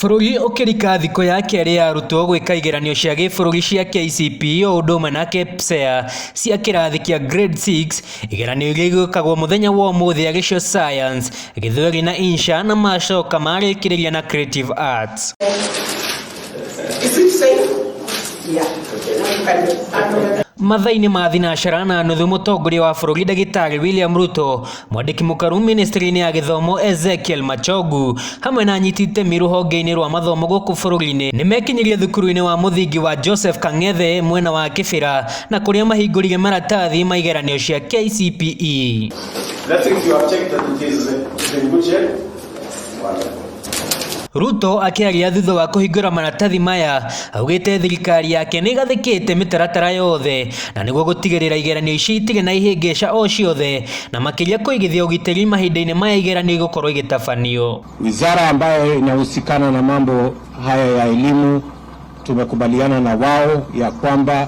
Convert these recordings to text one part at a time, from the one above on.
Bũrũri ũkĩrika thikũ ya kerĩ ya arutwo gwĩka igeranio cia gĩbũrũri cia KCPE o ũndũ ũmwe na KPSEA cia kĩrathi kĩa Grade 6, igeranio iria igwĩkagwo mũthenya wa ũmũthĩ arĩ cio Science, Gĩthweri na Insha na macoka marĩkĩrĩria na Creative Arts. Mathaa-inĩ ma thinacara na nuthu mũtongoria wa bũrũri ndagĩtarĩ William Ruto Mwandĩki mũkaru ministry-inĩ ya gĩthomo Ezekiel Machogu hamwe na anyiti itemi rũhonge-inĩ rwa mathomo gũkũ bũrũri-inĩ nĩ mekinyirie thukuru-inĩ wa mũthingi wa Joseph Kang'ethe mwena wa Kĩbĩra na kũrĩa mahingũrire maratathi ma igeranio cia KCPE. That if you have checked that it is been good shape, Ruto akĩaria thutha wa kũhingũra maratathi maya augĩte thirikari yake nĩ ĩgathĩkĩte mĩtaratara yothe na nĩguo gũtigĩrĩra igeranio icio itirĩ na ihĩngĩca o ciothe na makĩria kũigithia ũgitĩri mahinda-inĩ maya igeranio igũkorwo igĩtabanio. Wizara ambayo inahusikana na mambo haya ya elimu tumekubaliana na wao ya kwamba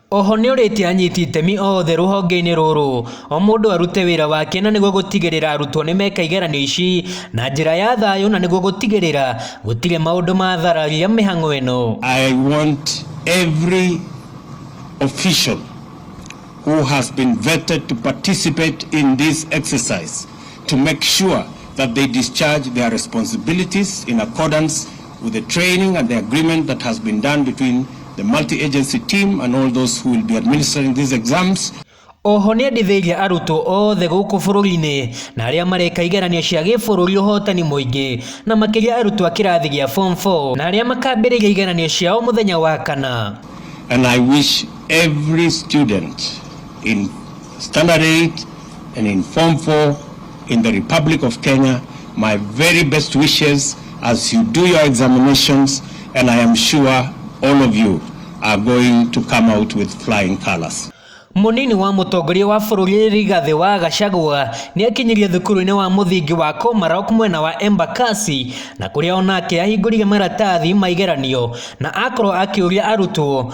Oho nĩorĩtie anyiti itemi oothe rũhongeinĩ rũrũ omũndũ arute wĩra wake na nĩguo gũtigĩrĩra arutwo nĩmeka igeranio ici na njĩra ya thayũ na nĩguo gũtigĩrĩra gũtirĩ maũndũ mathararia mĩhang'o ĩno. I want every official who has been vetted to participate in this exercise to make sure that they discharge their responsibilities in accordance With the training and the agreement that has been done between the multi-agency team and all those who will be administering these exams, Oho nĩ endithĩirie arutwo othe gũkũ bũrũri-inĩ na arĩa mareka igeranio cia gĩbũrũri ũhotani mũingĩ na makĩria arutwo a kĩrathi gĩa form 4 na arĩa makambĩrĩria igeranio ciao mũthenya wa kana. and I wish every student in standard 8 and in Form 4 in the Republic of Kenya. My very best wishes as you do your examinations, and I am sure all of you are going to come out with flying colors. Mũnini wa mũtongoria wa bũrũri Rigathĩ wa Gachagua nĩakinyirie thukuru-inĩ wa mũthingi wa Komarok mwena wa Embakasi na kũrĩa onake ahingũrire maratathi ma igeranio na akorwo akĩũria arutwo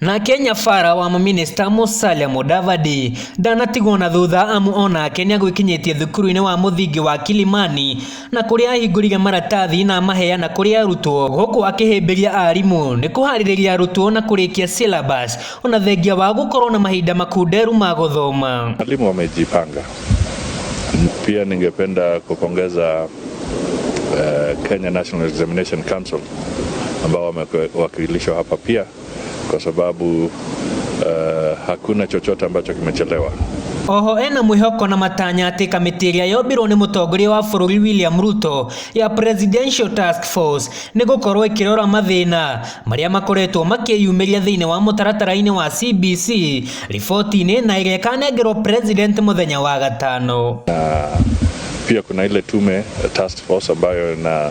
Nake nyabara wa mũminista Musalia Mudavadi ndanatigwo na thutha amu onake nĩegwĩkinyĩtie thukuru-inĩ wa mũthingi wa Kilimani na kũrĩa ahingũrire maratathi na amaheana kũrĩ arutwo gũkũ akĩhĩmbĩria arimũ nĩ kũharĩrĩria arutwo na kũrĩkia syllabus ona thengia wa gũkorwo na mahinda makunderu ma gũthoma. Walimu wamejipanga. Pia ningependa kupongeza eh, Kenya National Examination Council ambao wamewakilishwa hapa pia kwa sababu uh, hakuna chochote ambacho kimechelewa. Oho ena mwĩhoko na matanya atĩ kamĩtĩ ĩrĩa yombirwo nĩ mũtongoria wa bũrũri William Ruto ya Presidential Task Force nĩ gũkorwo ĩkĩrora mathĩna marĩa makoretwo makĩyumĩria thĩinĩ wa mũtaratara-inĩ wa CBC riboti-inĩ na ĩrĩa ĩkanengerwo president mũthenya wa gatano. Na pia kuna ile tume task force ambayo ina,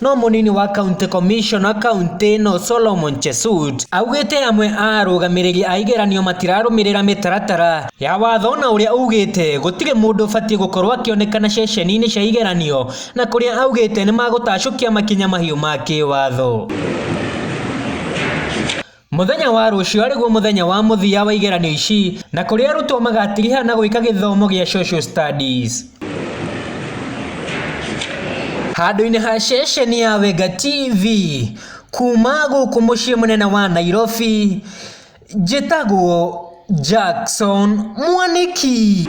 No mũnini wa county commissioner kauntĩ ĩno Solomon Chesut augĩte amwe a arũgamĩrĩri a igeranio matirarũmĩrĩra mĩtaratara ya watho na ũrĩa ugĩte gũtirĩ mũndũ ũbatiĩ gũkorwo akĩonekana ceceni-inĩ cia igeranio na kũrĩa augĩte nĩmagũtacũkia makinya mahiũ ma kĩwatho. Mũthenya wa rũciũ arĩguo mũthenya wa mũthia wa igeranio ici na kũrĩa arutwo magatiriha na gwĩka gĩthomo gĩa Social Studies. Handũ-inĩ ha ceceni ya Wenga TV, kuuma gũkũ mũciĩ mũnene wa Nairobi, njĩtagwo Jackson Mwanĩki.